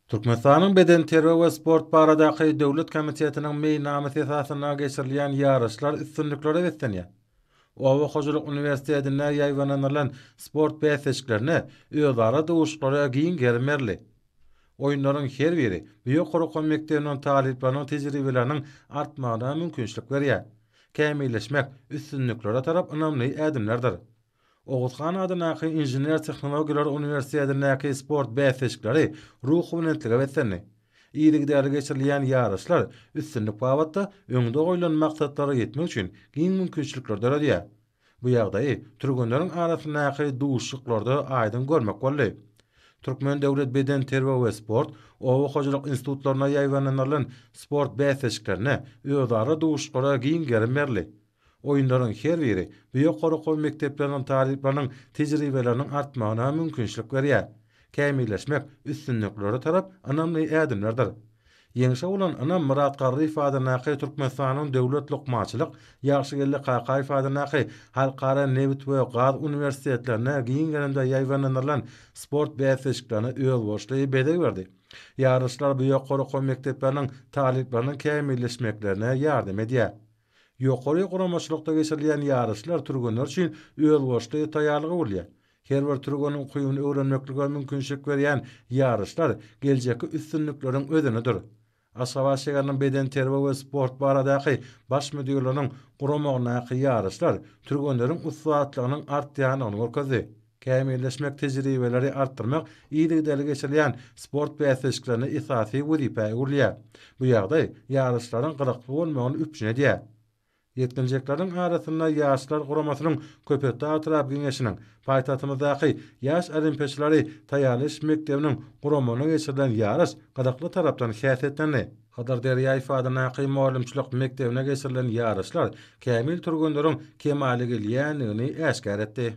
Türkmenistanyň Bedenterbiýe we sport baradaky döwlet komitetiniň meýilnamasy esasynda geçirilýän ýaryşlar üstünliklere beslenýär. Oba hojalyk uniwersitetinde ýaýbaňlandyrylan sport bäsleşiklerine, özara duşuşyklara giň gerim berildi. Oýunlaryň her biri bu ýokary okuw mekdebiniň talyplarynyň tejribeleriniň artmagyna mümkinçilik berýär. Kämilleşmek üstünliklere tarap ynamly ädimlerdir. Oguz han adyndaky Inžener-tehnologiýalar uniwersitetindäki sport bäsleşikleri ruhubelentlige beslendi. Yzygiderli geçirilýän ýaryşlar üstünlik babatda öňde goýlan maksatlara ýetmek üçin giň mümkinçilikleri döredýär. Bu ýagdaýy türgenleriň arasyndaky duşuşyklarda aýdyň görmek boldy. Türkmen döwlet bedenterbiýe we sport, oba hojalyk institutlarynda ýaýbaňlandyrylan sport bäsleşiklerinde özara duşuşyklara giň gerim berildi. Oýunlaryň her biri bu ýokary okuw mekdepleriniň talyplarynyň tejribeleriniň artmagyna mümkinçilik berýär. Kämilleşmek üstünliklere tarap ynamly ädimlerdir. Ýeňşe bolan ynam Myrat Garryýew adyndaky Türkmenistanyň Döwlet lukmançylyk, Ýagşygeldi Kakaýew adyndaky Halkara nebit we gaz uniwersitetlerinde giň gerimde ýaýbaňlandyrylan sport bäsleşiklerine özboluşly bezeg berdi. Ýaryşlar bu ýokary okuw mekdepleriniň talyplarynyň kämilleşmeklerine ýardam edýär. Ýokary guramaçylykda geçirilýän ýaryşlar türgenler üçin özboluşly taýýarlyga öwrülýär. Her bir türgen ukybyny öwrenmeklige mümkinçilik berýän ýaryşlar geljekki üstünlikleriň özenidir. Aşgabat şäheriniň bedenterbiýe we sport baradaky Baş müdirliginiň guramagyndaky ýaryşlar türgenleriň ussatlygynyň artýandygyny görkezdi. kämilleşmek tejribeleri artdyrmak yzygiderli geçirilýän sport bäsleşiklerinde esasy wezipä öwrülýär. Bu ýagdaý ýaryşlaryň gyzykly bolmagyny üpjün edýär. Ýetginjekleriň arasynda ýaşlar guramasynyň Köpetdag etrap geňeşiniň, paýtagtymyzdaky Ýaş olimpiýaçylary taýýarlaýyş mekdebiniň guramagynda geçirilen ýaryş gyzykly tarapdan häsiýetlendi. Hydyr Derýaýew adyndaky mugallymçylyk mekdebinde geçirilen ýaryşlar kämil türgenleriň kemala gelýändigini äşgär etdi.